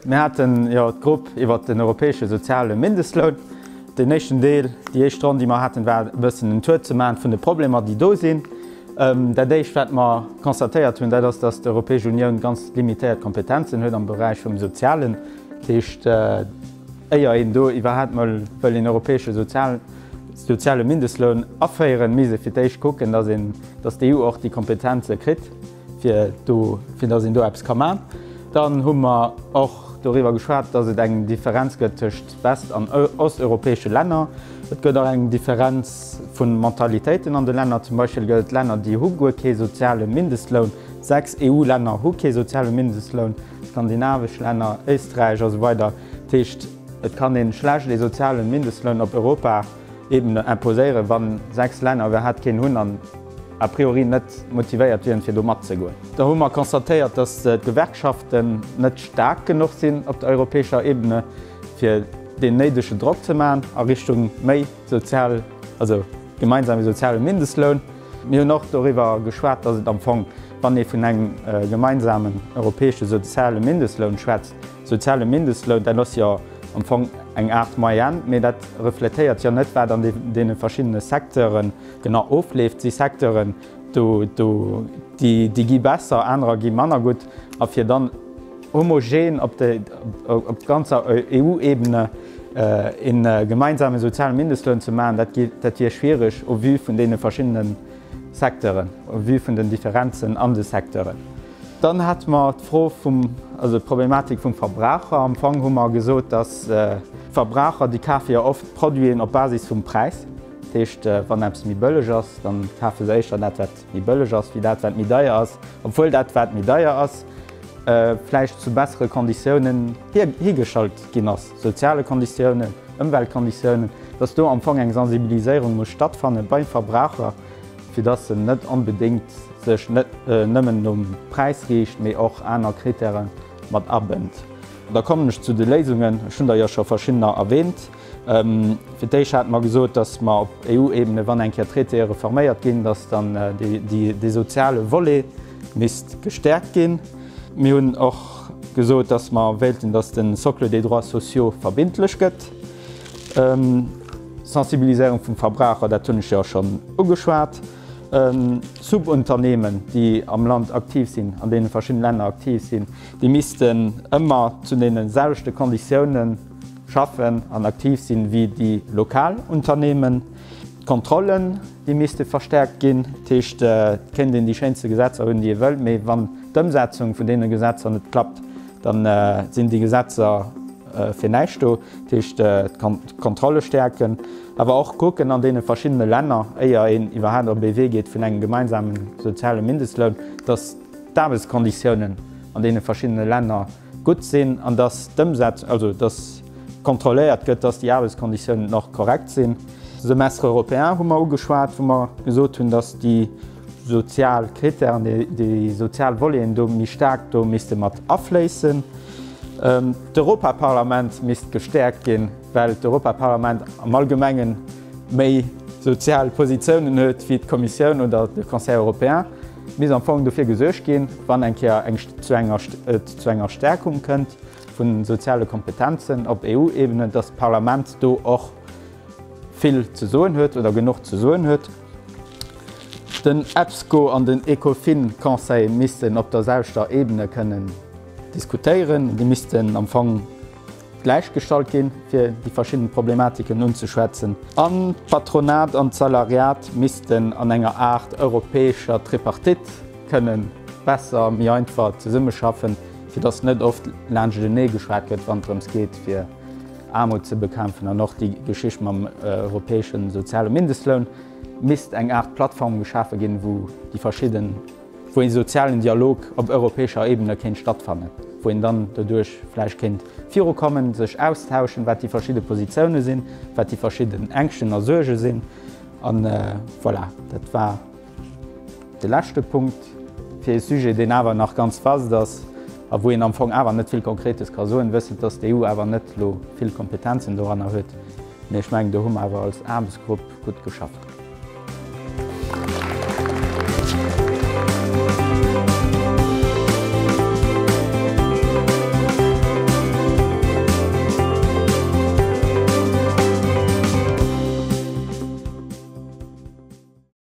Mir haten jo d'Grupp iwwert den europäesche soziale Mindestloun. Den éischten Deel, déi éischt Ronn, déi mer haten, war e bëssen en Tour ze maachen vun de Problemer, déi do sinn. Dat Éischt, wat mer constatéiert hunn, dat ass, dass d'Europäesch Unioun ganz limitéiert Kompetenzen huet am Beräich vum Sozialen. Dat heescht, éier een do iwwerhaapt emol wëll een europäesche Sozial, soziale Mindestloun aféieren, misst ee fir d'éischt kucken, dass een, dass d'EU och déi Kompetenze kritt, fir do, fir dass een do eppes ka man. Dann hu mer och doriwwer geschwat, dass et eng Differenz gëtt tëschent west an osteuropäesche Länner. Et gëtt och eng Differenz vu Mentalitéiten an de Länner. Zum Beispill gëtt et Länner, déi hu guer kee soziale Mindestloun. Sechs EU-Länner hu kee soziale Mindestloun, skandinavesch Länner, Éisträich a sou weider. Dat heescht. Et kann een schlecht ee sozialen Mindestloun op Europa Ebene imposéieren wann 6 Länner iwwerhaat keen hunn an a priori net motivéiert wieren fir do mat ze goen. Da hu mer constatéiert dass d'Gewerkschaften net staark genuch sinn op der europäescher Ebene fir deen néidegen Drock ze maachen a Richtung méi sozial, also gemeinsame soziale Mindestloun. Mir hunn och doriwwer geschwat dass et am Fong wann ee vun engem gemeinsamen europäesche soziale Mindestloun schwätzt, Soziale Mindestloun, dat ass jo am Fong eng Aart Moyenne, mee dat refletéiert jo net, wat an deene verschiddene Secteure genau ofleeft. Et si Secteuren, déi gi besser, anerer gi manner gutt. A fir dann homogen op ganzer EU-Ebene ee gemeinsame soziale Mindestloun ze maachen, dat wier schwiereg au vu vun deene verschiddene Secteuren, au vu vun den Differenzen an de Secteuren. Dann hätte mer d'Fro vum, also d'Problematik vum Verbraucher. Am Fong hu mer gesot, dass d'Verbraucher, déi kafe jo oft Produiten op Basis vum Präis. Dat heescht, wann eppes méi bëlleg ass, dann kafe se éischter dat, wat méi bëlleg ass, wéi dat, wat méi deier ass, obwuel dat, wat méi deier ass, vläicht zu bessere Konditiounen hiergestallt ginn ass, soziale Konditiounen, Ëmweltkonditiounen, dass do am Fong eng Sensibiliséierung muss stattfanne beim Verbraucher, fir dass se net onbedéngt sech net nëmmen nom Präis riicht, mee och aner Krittäre mat abënnt. Da kommen ech zu de Léisungen. Ech hunn der jo scho verschiddener erwähnt. Fir d'éischt hate mer gesot, dass mer op EU-Ebene, wann eng Kéier Traitéë reforméiert ginn, dass dann dee soziale Volet misst gestärkt ginn. Mir hunn och gesot, dass mer wéilten, dass de Socle des droits sociaux verbindlech gëtt. Sensibiliséierung vum Verbraucher, dat hunn ech jo schonn ugeschwat. Subunternehmen, déi am Land aktiv sinn, an deene verschidden Länner aktiv sinn, déi missten ëmmer zu deene selwechte Konditiounen schaffen an aktiv sinn wéi déi lokal Unternehmen. D'Kontrollen, déi misste verstärkt ginn. Dat heescht, et kéint een déi schéinste Gesetzer hunn, déi ee wëll, mee wann d'Ëmsetzung vun deene Gesetzer net klappt, da sinn déi Gesetzer, Fir näischt do. Dat heescht, d'Kontrolle stäerken, awer och kucken an deene verschiddene Länner, éier een iwwerhaapt op ee Wee geet vun engem gemeinsame soziale Mindestloun, datt d'Aarbechtskonditiounen an deene verschiddene Länner gutt sinn an datt d'Ëmsetz, also datt kontrolléiert gëtt, datt déi Aarbechtskonditiounen och korrekt sinn. Semestre européen hu mer ugeschwat, wou mer gesot hunn, datt déi. sozial Critèren, déi sozial Voleten do méi staark do misste mat afléissen. D'Europaparlament misst gestäerkt ginn, well d'Europaparlament am Allgemengen méi sozial Positiounen huet wéi d'Kommissioun oder de Conseil européen. Et misst am Fong dofir gesuergt ginn, wann eng Kéier eng et zu enger Stäerkung kënnt vu soziale Kompetenzen op EU-Ebene, datt d'Parlament do och, vill ze soen huet oder genuch ze soen huet. Den EPSCO an den Ecofin-Conseil missten op der selwechter Ebene kënnen diskutéieren. Déi missten am Fong gläichgestallt ginn, fir déi verschidden Problematiken unzeschwätzen. An d'Patronat an d'Salariat missten an enger Aart europäescher Tripartite kënnen besser, méi einfach zesummeschaffen, fir dass net oft laanscht enee geschwat gëtt, wann et drëms geet, fir. Aarmut ze bekämpfen an och déi Geschicht mam europäesche soziale Mindestloun, misst eng Aart Plattform geschafe ginn, wou déi verschidden, wou ee sozialen Dialog op europäescher Ebene kéint stattfannen, wou een dann doduerch vläicht kéint virukommen, sech austauschen, wat déi verschidde Positiounen sinn, wat déi verschidden Ängschten a Suerge sinn. An voilà, dat war. De leschte Punkt, fir ee Sujet, deen awer nach ganz vast ass a wou een am Fong awer net vill Konkretes ka soen, wëssend, dass d'EU awer net elo vill Kompetenzen doranner huet, mee ech mengen, do hu mer awer als Aarbechtsgrupp gutt geschafft.